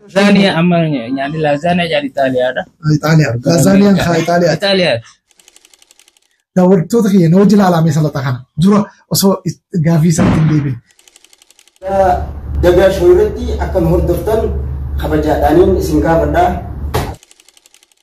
Lazaaniya amma nyaanni lazaaniya jedhan Itaaliyaadha. Itaaliyaa. Gara Lazaaniyaan Ameerikaa. kaa Itaaliyaa. Itaaliyaati. Daawwattoota kiyya na wajjin ilaalaa mee salaxaa kana. Dura osoo is- gaaffii isaatti hin deebin. Dagaa shoo irratti akka nu hordoftan kabajaadhaaniin isin gaafadha.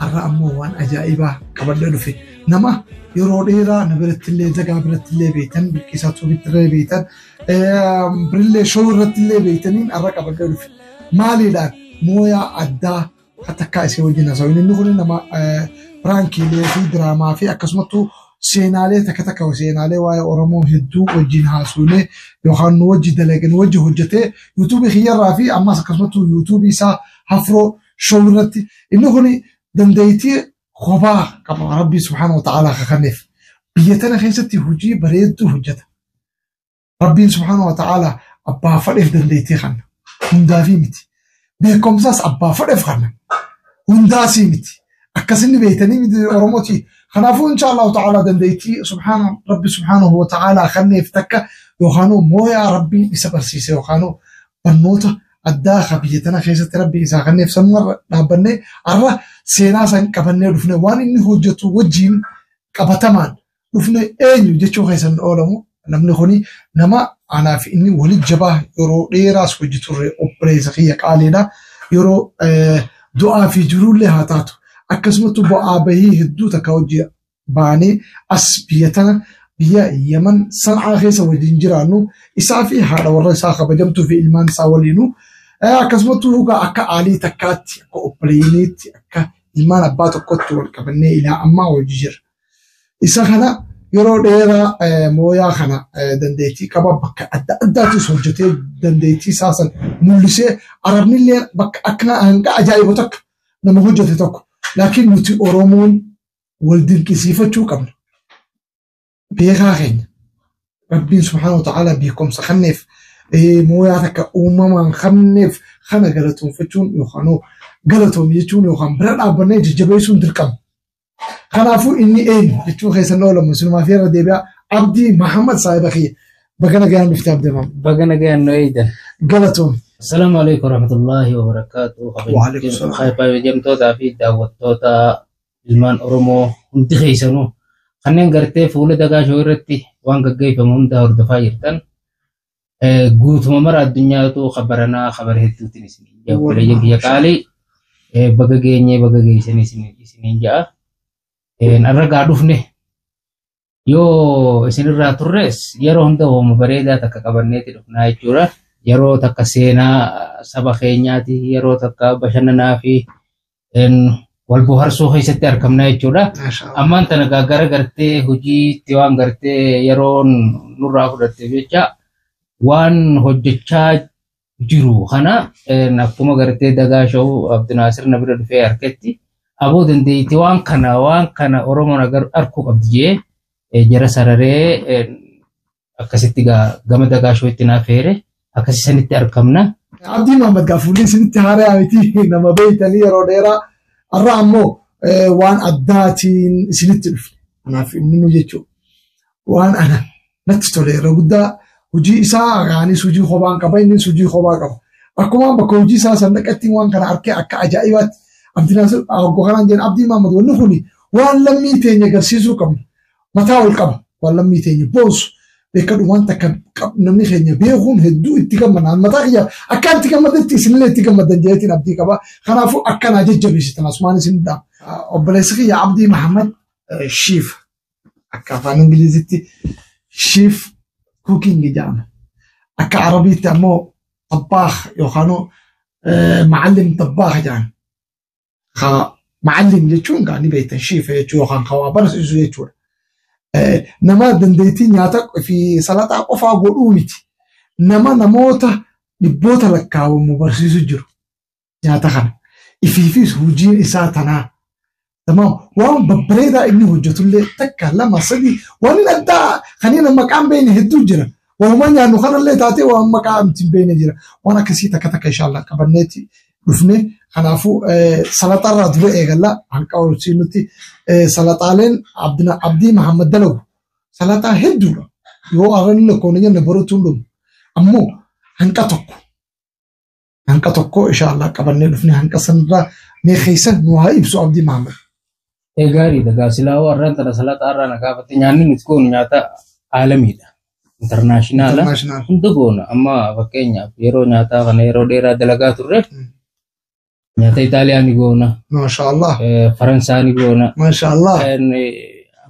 Har'a ammoo waan ajaa'ibaa qabadhee dhufe. Nama yeroo dheeraa na biratti illee zagaa biratti illee beektan bilqisaa tuubitti illee beektan birillee shoo irratti illee beektaniin har'a qabadhee dhufe. Maaliidhaan mooyaa addaa takkaa isii wajjin haasa'u. Inni kun nama piraankiilee fi diraamaa fi akkasumattuu seenaalee takka takka seenaalee waa'ee Oromoo hedduu wajjin haasuunee yookaan nu wajji dalagee nu wajji hojjetee yuutuubii kiyyarraa fi ammas akkasumattuu yuutuubii isaa hafroo show irratti inni kun dandeettii kophaa qaba rabbii subhaana wa ta'aalaa kakanneef biyya tana keessatti hojii bareedduu hojjeta rabbiin subhaana wa ta'aalaa abbaa fadheef dandeettii kanna hundaafii miti beekumsaas abbaa fadheef kanna hundaasii miti akkasinni beektanii miti oromooti kanaafuu insha allahu ta'aalaa dandeettii subhaana rabbi subhaanahu wa ta'aalaa kanneef takka yookaanuu mooyaa rabbii isa barsiise yookaanuu barnoota addaa akka biyya tana keessatti rabbi isaa kanneef sanumarra dhaabbanne arra seenaa san qabannee dhufne waan inni hojjetu wajjiin qabatamaan dhufne eenyu jechuu keessan oolamu namni kuni nama anaaf inni wali jabaa yeroo dheeraas hojii turre obboleessa kiyya qaaliidha yeroo eh, du'aa fi jiruullee haa taatu akkasumatti bu'aa bahii hedduu takka hojii baanee as biyya tana biyya Yaman San'aa keessa waliin jiraannu isaa fi haadha warra isaa kabajamtuu fi ilmaan isaa waliinu akkasumattuu dhugaa akka aalii takkaatti akka obboleeyiniitti akka ilmaan abbaa tokkotti wal qabannee ilaa ammaa hojii jira. Isa kana yeroo dheeraa mooyaa kana dandeettii qaba bakka adda addaattis hojjetee dandeettii isaa san mul'isee arabnillee bakka akka hanga ajaa'ibu takka nama hojjete tokko laakiin nuti Oromoon wal dinqisiifachuu qabna. Beekaa keenya Rabbiin subhaanahu wa ta'aalaa beekumsa kanneef mooyaa takka uumamaan kanneef kana galatoonfachuun yookaan galatoomi jechuun yookaan bira dhaabbannee jajjabeessuun dirqama. Kanaafuu inni eenyu jechuun keessa na oolamu sinumaa fi irra deebi'aa Abdii Mahammad saahiba kiyya baga nagayaan dhufte Abdii Mahammad. Baga nagayaan nu eeydan. Galatoomi. Assalaamu alaikum warahmatullaahi wabarakaatu. Waalaikum salaam. Kabajamtootaa fi daawwattoota ilmaan Oromoo hundi keessanuu kanneen gartee fuula dagaa shoo irratti waan gaggeeffamu hundaa hordofaa jirtan guutuma mara addunyaatu kabaranaa kabara hedduutiin isin ija obboleeyyan kiyya qaalii baga geenyee baga geessanii isiniin ja'a. Har'a gaa dhufne Yoo isinirraa turres yeroo hunda hooma bareedaa takka qabanneeti dhufnaa jechuudha. Yeroo takka seenaa saba keenyaati, yeroo takka bashannanaa fi een, wal boharsuu keessatti argamna jechuudha. Masha Allah. Ammaan tana gaa gara gartee hojiitti waan gartee yeroon nurraa fudhatteef jecha waan hojjechaa jiru kana akkuma gartee dagaa sha'u Abdinaasir na bira dhufee harkatti aboo dandeetti waan kana waan kana Oromoon arkuu qabdi jee jara sararee akkasitti gama dagaa shootti naa feere akkasii sanitti argamna. Abdii Maamad Gaafuullee isinitti haaraa miti nama beektanii yeroo dheeraa har'a ammoo waan addaatiin isinitti dhufe. Kanaaf inni nu jechuudha. waan ana natti tole irra guddaa hojii isaa anis hojii kophaan qaba innis hojii kophaa qaba. Akkuma bakka hojii isaa san dhaqatti waan kana harkee akka ajaa'ibaatti abdinaas aggoo kanaan jedhan abdii maammad wanni kun waan lammii teenya agarsiisuu qabna. Mataa ol qaba waan lammii teenya boonsu beekadhu waan takka namni keenya beekuun hedduu itti gammadaan mataa kiyya akka itti gammadetti isinillee itti gammadan jedhetiin abdii qaba. Kanaafuu akkanaa jajjabeessitan asumaan isin dhaam. Obboleessi kiyya abdii Mahammad Shiif Akka afaan Ingilizitti shiif kuukingi jedhama. Akka Arabiitti ammoo xabbaaq yookaan macallim xabbaaq jedhan. Ka macallim jechuun gaa ni beektan shiif jechuu yookaan ka waa barsiisu jechuudha. Nama dandeettii nyaata fi salaxaa qofaa godhuu miti. Nama namoota dhibboota lakkaawamu barsiisu jiru. nyaata kana ifiifis hojiin isaa tanaa tamaam waan babbareedaa inni hojjetullee takka lama sadii waan addaa kanneen maqaan beekne hedduu jira waanuma nyaannu kanallee taatee waan maqaa nuti hin beekne jira waan akkasii takka takka inshaallah qabanneeti dhufne kanaafuu salaxaarraa dura eegalla halqa horsii nuti salaxaaleen abdina abdii mahammad dalagu salaxaa hedduudha yoo arranni lakkoofne jenne baruutuun dhumu ammoo hanqa tokko hanqa tokko inshaallah qabannee dhufne hanqa sanirraa mee keessan nu haa ibsu abdii maamad. Ee gaariidha gaasilaa warraan tana salaxaa irraa na gaafate nyaanni nuti goonu nyaata aalamiidha. Intarnaashinaala International. hunda goona amma fakkeenyaaf yeroo nyaataa kana yeroo dheeraa dalagaa turre Mm. nyaata Itaaliyaa ni goona Maashaallah. eh, Faransaa ni goona Maashaallah. eh,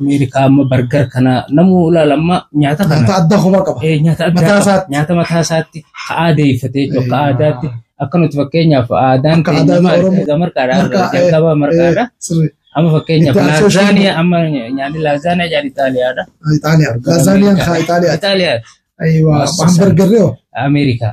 Ameerikaa amma bargar kana namuu ilaala amma nyaata kana. Nyaata adda kophaa qaba. Eh, nyaata addaa Mataa qaba. isaatti. Nyaata mataa isaatti ka aadeeffate jechuudha. Akka Eh, aadaatti akka nuti fakkeenyaaf aadaan Akka aadaa keenya Oromoo. erga marqaadha. Marqaa, eh, Jalqaba marqaadha. eh, sirrii. Amma fakkeenyaaf Itti aansee laazaaniya amma nyaanni laazaaniya jedhan Itaaliyaadha. Itaaliyaa. Laazaaniyaan kaa Itaaliyaa. Itaaliyaa. Ayiwa. Maasii Hamburgerri hoo? Ameerikaa.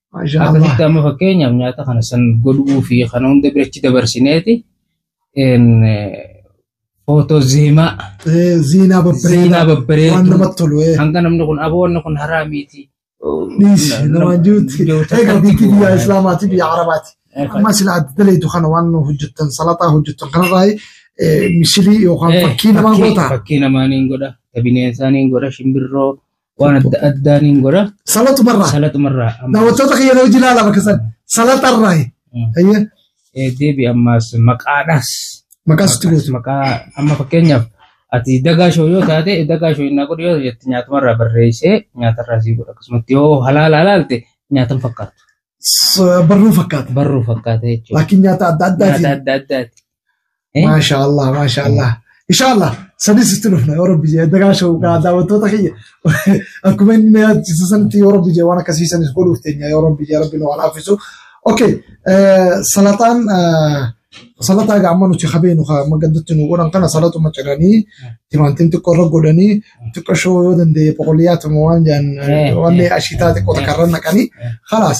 Maashaa Akkasitti Allah. amma fakkeenyaaf nyaata kana san godhuu fi kana hunda birachi dabarsineeti een, eh, footoo zeemaa Eh, Ziinaa babbareedaa. zeemaa Waan babbareedu namatti tolu. eh. hanga namni kun aboo wanni kun haraa miti. Dhiis nama jirutti. Egaa biyyi biyya Islaamaati biyya Arabaati. Amma sila adda daleetu kana waan hojjettan salataa hojjettan kanarraa eh, misilii yookaan fakkii namaa goota. Fakkii namaa niin godha, ta bineensaa niin godha, shimbirroo, waan adda addaa niin godha Salatumarraa. salaxumarraa amma Daawwattoota kiyya na hojii ilaala bakka san. Salatarraa. Mm. Hayyee. eh, deebi ammaas maqaadhaas Maqaa sitti gootu. maqaa amma fakkeenyaaf ati dagaa shoo yoo taate dagaa shoo innaa godhu yoo jette nyaatumarraa barreessee nyaatarraa sii godha akkasumatti yoo halaala halaalte nyaatan fakkaatu S- Barruu fakkaata. barruu fakkaata jechuudha Laakiin nyaata adda nyaata addaati. adda addaati Eh? Maashaa Allah, maashaa Allah. Inshaa Allah, sanis itti dhufna yoo rabbi jee dagaa shawqaa daawwattoota kiyya. Akkuma inni na yaadchiisa sanitti yoo rabbi jee waan akkasii sanis godhuuf teenya yoo rabbi jee rabbi nu alaafisu. Okay, eh, salataan eh, salataa gaamma nuti habeenu haa magaddutti nu godhan kana salatuma ciranii timaantiin xiqqoo irra godhanii xiqqoo shoo yoo danda'e boqoliyyaatuma waan jaan Eh, waan eh, ashiitaa xiqqoo eh, takka irra naqanii eh. khalaas.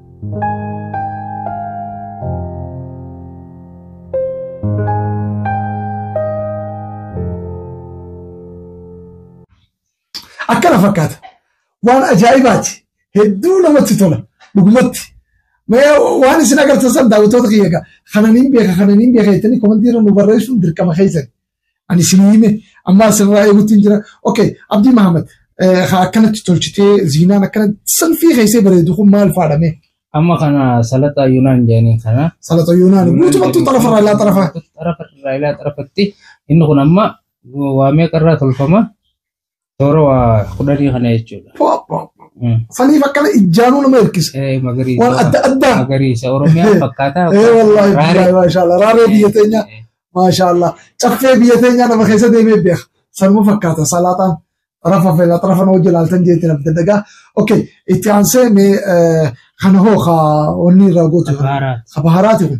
akkana fakkaata waan ajaa'ibaati hedduu namatti tola dhugumatti Mee waan isin agartan san daawwattoota kiyya egaa kananiin beeka kananiin beeka jettanii komantii irra nu barreessuun dirqama keessan Ani isinii hime ammaa isinirraa eeguutti hin jira. Okay, Abdii Mahamad haa akkanatti tolchitee ziinaan akkanatti salfii keessee bareedu kun maal faadha mee? Amma kana salaxaa Yunaan jedhanii kana. Salata Yunaan guutumatti xarafarraa ilaa xarafa. Xarafarraa ilaa xarafatti inni kun amma waa meeqarraa tolfama? Toora waa kudhanii kana jechuudha. Mm. Saniif akkana ijjaanuu nama hirkisa. Eh, Waan Magariisa. adda addaa. Magariisa. Oromiyaa fakkaataa. Eh wallaahi Raaree. billaahi maashaallah raaree biyya teenyaa Eh, maashaallah caffee biyya teenyaa nama keessa deemee beeka sanuma fakkaata salaataan rafa feela rafa nama jilaaltan jeetti naaf daddagaa okay itti aansee mee eh, kana hoo haa wanni irraa gootu Bahaaraat. habaharaati kun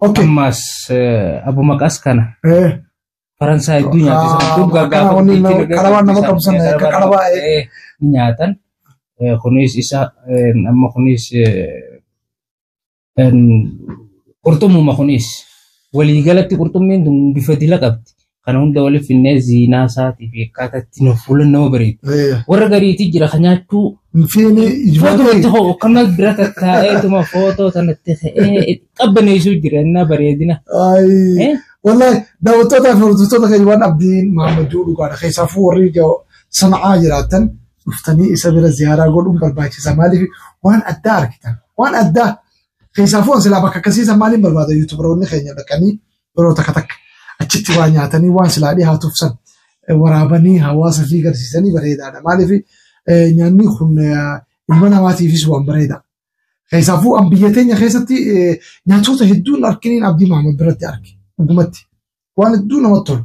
Okay. Ammaas eh, abu maqaas kana Eh, Faransaay hedduu nyaata isaan kun Ah, gaafa kana wanni guddichi nama- illee qarabaan nama isaan qabsan, nyaata, akka qarabaa, qarabaa, eh, ni nyaatan. Eh, Kunis isa eh, amma kunis eh, en, qurxummuma kunis waliigalatti qurxummiin tun bifa dila qabdi. Kana hunda waliif finnee ziinaa isaatii fi akkaataa itti nuuf fuula nama bareedu. Eh, Warra gariitii jira kan nyaachuu Fiini Footootti ijmaa hoo akkana bira tattaa'eetuma footoo sanatti ta'ee qabbaneessuu jira innaa bareedina. Ayi. Eh? Wallahi daawwattootaa fi hordoftoota keenya waan abdiin Maammaduu dhugaadha. Keessaafuu warri ga- sana'aa jiraatan dhuftanii isa bira ziyaaraa godhuun barbaachisa. Maaliif waan addaa argitan. Waan addaa keessaafuu silaa bakka akkasiisan maaliin barbaada yuutubaroonni keenya dhaqanii yeroo takka takka achitti waa nyaatanii waan silaa dhihaatuuf san eh, waraabanii hawaasa fi garsiisanii bareedaadha. Maaliif eh, nyaanni kun eh, ilma namaatiifis waan bareeda. Keessaafuu an biyya teenya keessatti eh, nyaatota hedduun arkiniin Abdii Mahamad biratti arge dhugumatti waan hedduu namatti tolu.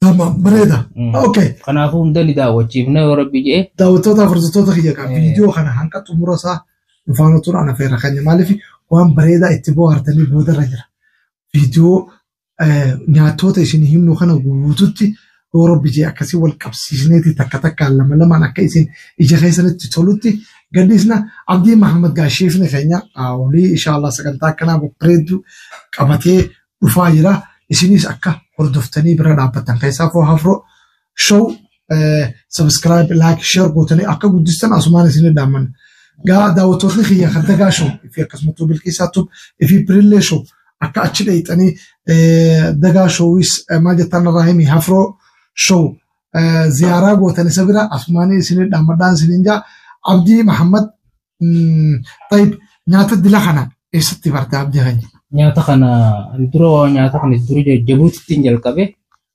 Tamam, bareeda. Mm. Okay. Kanaafuu hunda ni daawwachiifna yoo rabbi jee. Daawwattoota hordoftoota kiyya qaba. Eh. Viidiyoo kana hanga xumura isaa dhufaanuu turan afeerra keenya. Maaliif waan bareedaa itti bohaartanii boodarra jira. Viidiyoo eh, nyaatota isin himnu kana guututti yoo rabbi jee akkasii wal qabsiisneeti takka takkaan lama lamaan akka isin ija keessanitti tolutti gadhiisna. Abdii Mahamad Gaasheefni keenya ah, olii inshaallah sagantaa akkanaa babbareedduu qabatee dhufaa jira. Isinis akka hordoftanii bira dhaabbattan keessaa koo hafroo show subscribe like share gootanii akka guddistan asumaan isin dhaammanna. Gaa daawwattootni kiyya kan dagaa show fi akkasumattuu bilqiisaa tub fi pirillee show akka achi dheeyxanii dagaa showis maal jettaan irraa himi hafroo show ziyaaraa gootan isa bira asumaan isin dhaammadhaan isin jaa Abdii Mahammad Tayyib nyaata dila kana eessatti barte abdii keenya? Nyaata kana ani dura waa nyaata kana dura jajjabuutittiin jalqabe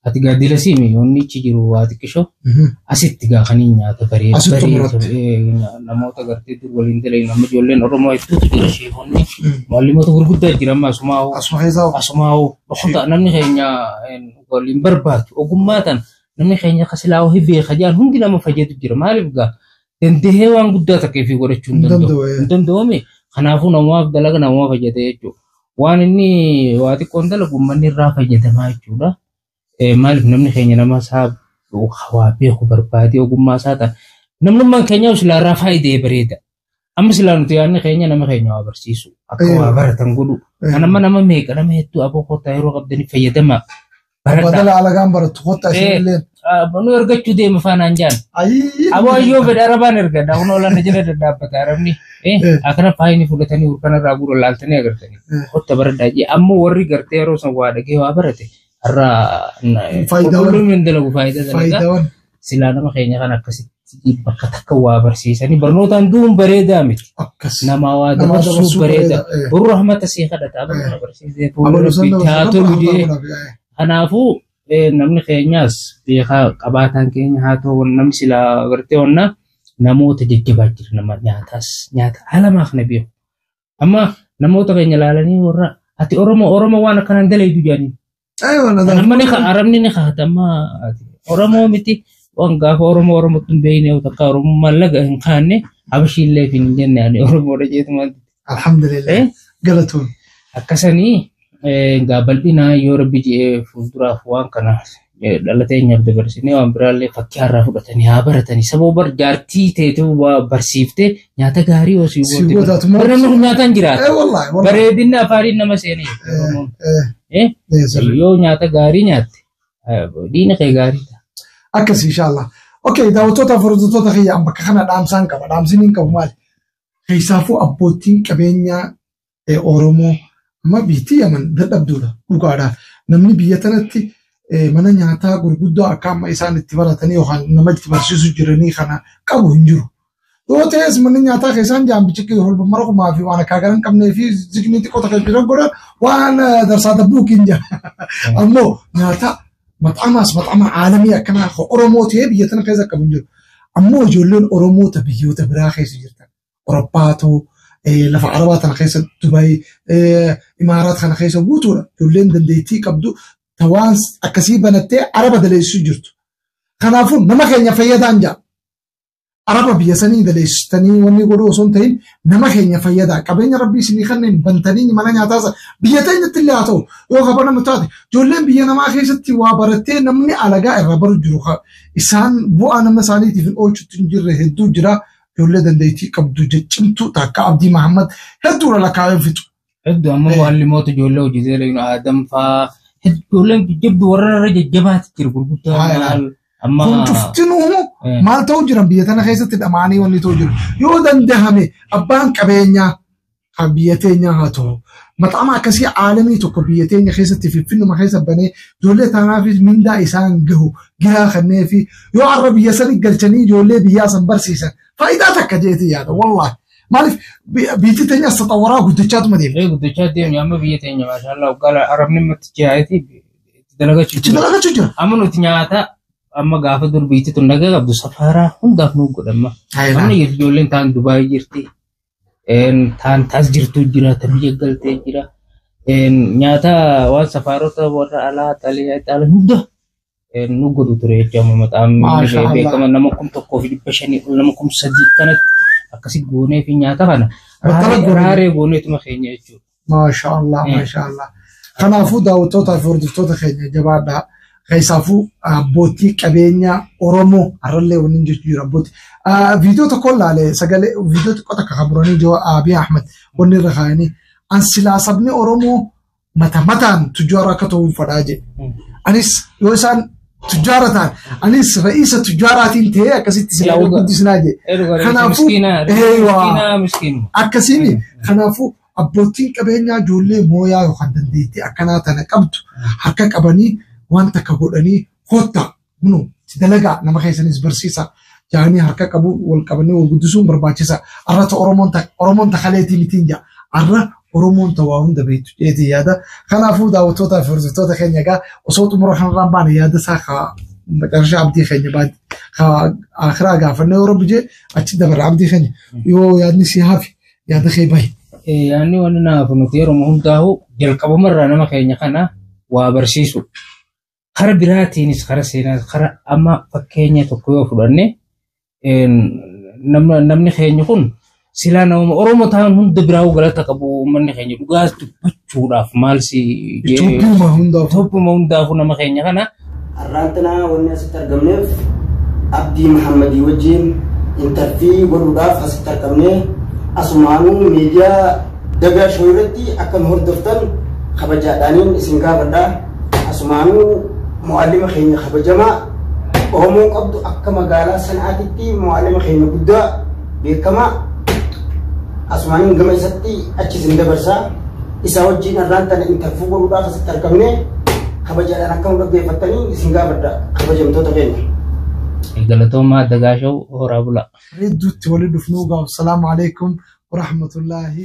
ati gaa dila siimi wanni achi jiru waa xiqqisho asitti gaa kaniin nyaata baree Asitti baree xumuratte. sobee nya- namoota gartee dur waliin dalee nama ijoolleen Oromoo hedduutu jira sheekonni maalimoota gurguddaa jira amma asumaa hoo Asuma keessaa asumaa hoo dhokota namni keenya een, waliin barbaadu ogummaa tan namni keenya kasilaa hoo hibbee kajaan hundi nama fayyadu jira maaliif gaa dandahee waan guddaa takka ifii godhachuu hin danda'u. Hin danda'uumi. Kanaafuu namaaf dalaga namaa fayyada jechuudha. Waan inni waa xiqqoon dalagu uummanni irraa fayyadamaa jechuudha. Maaliif namni keenya nama isaa waa beeku barbaadee ogummaa isaa ta'a. Namnummaan keenyaa silaa irraa faayidee bareeda. Amma silaa nuti yaadni keenya nama keenya waa barsiisu. Akka waa baratan godhu. Kan amma nama meeqa nama hedduu aboo kottaa yeroo qabdanii fayyadamaa. Baradhaa. Badala alagaan barattu kottaa isin Ee, illee. ah, nu ergachuu deema faanaan jaan. Ayii. Aboo ayyoo fedha arabaan erga daawwan olaana jala dadhaabbata arabni. Eh, Eh. akkana faayini fudhatanii urkana irraa guura laaltanii agartanii. Eh. Kotta baradhaa jee ammoo warri gartee yeroo san waa dhagee waa barate har'a Faayidaawwan. qulqulluun hin dalagu faayidaa dalagaa. Faayidaawwan. Silaa nama keenya kan akkasitti bakka takka waa barsiisanii barnootaan du'uun bareedaa miti. Akkas. Namaa waa Namaa dabarsuu dabarsuu bareeda. bareeda, eh. Boruu rahmata sii kadhata. Amma nama barsiisee fuula Amaluu san rabbiitti haa dabarsa. tolu jee. Kanaafuu eh, namni keenyaas beekaa qabaataan keenya haa ta'u wan- namni silaa agartee wanna namoota jajjabaa jira nama nyaataas nyaata haalamaaf na beeku. Amma namoota keenya ilaalanii warra ati Oromoo Oromoo waan akkanaan dalaydu jedhanii Ay, wala Kan amma ni ka arabni ni kaa'ata amma ati Oromoo miti waan gaafa Oromoo Oromootti hin beekne yoo takka Oromoo mallaqa hin kaanne Habashiillee fi hin jenne ani Oromoodha jeetuma Alhamdulillah. Eh? Galatoon. akkasanii eh, gaa bal'inaa yoo rabbi je'ee fuulduraaf waan kana eh, dhala teenyaaf dabarsinee waan biraallee fakkii har'aa fudhatanii haa baratanii sababa bar jaartii teetuu waa barsiiftee Nyaata gaarii yoo si Si goote. gootaatu maal- Bara namni kun nyaataan Eh, jiraata. wallaahi, wallaahi. Bareedinni afaanii nama seenee. Oromoon. Eh, Eh? eh, sirrii. Yoo nyaata gaarii nyaatte eh, diina kee gaarii ta'a. akkas inshaallah okay daawwattoota hordoftoota kiyya an bakka kana dhaamsaan qaba dhaamsiin hin qabu maali keessaafuu abbootiin qabeenyaa Oromoo amma biyyattii Yaman dadhabduudha dhugaadha. Namni biyya tanatti mana nyaataa gurguddaa akka amma isaan itti baratanii yookaan nama itti barsiisu jiranii kana qabu hin jiru. Yoo ta'es manni nyaataa keessaan jaambichi holbamara kumaa fi waan akkaa garan qabnee fi ziknii xiqqoo takka jiran godhan waan darsaa dabbuu kiin jira. Ammoo nyaataa maxxamaas maxxama aalamii akkanaa Oromoo ta'ee biyya tana keessa qabu hin jiru. Ammoo ijoolleen Oromoota biyyoota biraa keessa jirtan Awuroppaatu lafa arabaa tana keessa Dubaay imaaraat kana keessa guutuudha. Ijoolleen dandeettii qabdu tawaan akkasii banattee araba daleessuu jirtu. Kanaafuu nama keenya fayyadaan jaa. Araba biyya sanii daleessitanii wanni godhuu osoo hin ta'in nama keenya fayyadaa qabeenya rabbii isinii kanneen bantanii mana nyaataasa biyya teenyatti illee haa ta'u yoo kaba nama taate ijoolleen biyya namaa keessatti waa barattee namni alagaa irraa baru jiru isaan bu'aa nama isaaniitiif hin oolchutti hin jirre hedduu jira ijoollee dandeettii qabdu jechimtuu takka Abdii Mahammad hedduudha lakkaa'een fixu. Hedduu amma Eh. waan limoota ijoollee hojjetee leeynu aadam faa ijoolleen jajjabdu warra irra jajjabaatti jiru gurguddaa Haa, yaa. maal amma Kun cuftinuu Eh. maal ta'uu jiran biyya tana keessatti dhama'anii wanni ta'uu jiru. Yoo dandahame abbaan qabeenyaa kan biyya teenyaa haa ta'u. Maqaama akkasii aalamii tokko biyya teenya keessatti finfinnuma keessa banee ijoollee taanaafis mindaa isaan gahu giraa kannee fi yoo arra biyya sanii galchanii ijoollee biyyaa san barsiisan faayidaa takka jeetii yaada wallaahi. Maaliif biyyi teenya saxawaraa guddachaatuma deema. Ee guddachaa deemne amma biyya teenya maashaallah uggala arabni matti jaayati itti dalagachuu Itti jira. dalagachuu jira. Amma nuti nyaata amma gaafa dur biitti tun dhagee qabdu safaaraa hundaaf nu godhamma. Amma ijoolleen taan Dubaayii jirti. taan taas jirtuu jira ta biyya galtee jira nyaata waan safaarota warra alaa xalee xaala hunda nu godhu ture jechuudha maqaan beekama nama kum tokkoo fi dhibba shanii ol nama kum sadii kanatti akkasi goonee fi nyaata kana raaree gooneetuma keenya jechuudha. Maasha Allah, Mm. maasha Allah. Kanaafuu daawwattootaa fi hordoftoota keenya jabaadhaa. Keessaafuu abbootii qabeenyaa Oromoo har'allee waliin jechuu jira abbootii. Ah, Viidiyoo tokko ilaale sagalee viidiyoo xiqqoo takka kan buranii jiru Abiy Ahmed wanni irra kaa'anii an silaa sabni Oromoo mata mataan tujjaara akka ta'uun fadhaa jedhe. Anis yoo isaan tujjaara ta'an anis ra'iisa tujjaaraatiin ta'ee akkasitti silaa Eeguudha. wal guddisinaa jedhe. Kanaafuu- Kanaafuu. Miskiinaa. Eeywaa. Miskiinaa miskiinuma. akkasiin kanaafuu Abbootiin qabeenyaa ijoollee mooyaa yookaan dandeettii akkanaa tana qabdu harka qabanii waan takka godhanii koottaa kunoo itti dalagaa nama keessanis barsiisaa jaanii harka qabuun wal qabanii wal guddisuun barbaachisa. Arra ta Oromoon ta Oromoon ta kaleetii mitiin jaa. Arra Oromoon ta waa hunda beektu jeetii yaada. Kanaafuu daawwattootaa fi hordoftoota keenya egaa osoo xumura kanarraan baane yaada isaa kaa maqarshaa abdii keenya baaddi. Kaa akiraa gaafannee yoo rabbi jee achi dabarra abdii keenya yoo yaadni si hafi yaada kee bahi. Yaanni wanni naafu nuti yeroo hundaa'u jalqabumarraa nama keenya kana waa barsiisu. Kara biraatiinis kara seenaa kara amma fakkeenya tokko yoo fudhanne namni keenya kun silaa nama Oromoo ta'an hunda biraa galata qabu uummanni keenya dhugaas dubbachuu. fuudhaaf maal si Itoophiyyuma hundaaf. Itoophiyyuma hundaafuu nama keenya kana Har'aantanaa wanni asitti argamneef Abdii Mahammadii wajjin intarfii godhuudhaaf asitti argamne asumaanuu miidiyaa dagaa shoo irratti akka nu hordoftan kabajaadhaaniin isin gaafadha. Asumaanuu mu'allima keenya kabajamaa Oromoo qabdu akka magaalaa sanaatitti mu'allima keenya guddaa beekamaa asumaan gama isatti achi isin dabarsaa isaa wajjin irraan tana intarfuu godhuudhaaf asitti argamne kabajaadhaan akka nu dhaggeeffattanii isin gaafadha kabajamtoota keenya. Galatoomaa Dagaashaw horaa bulaa. Hedduutti waliin dhufnuu gaaf salaamu alaikum warahmatullaahi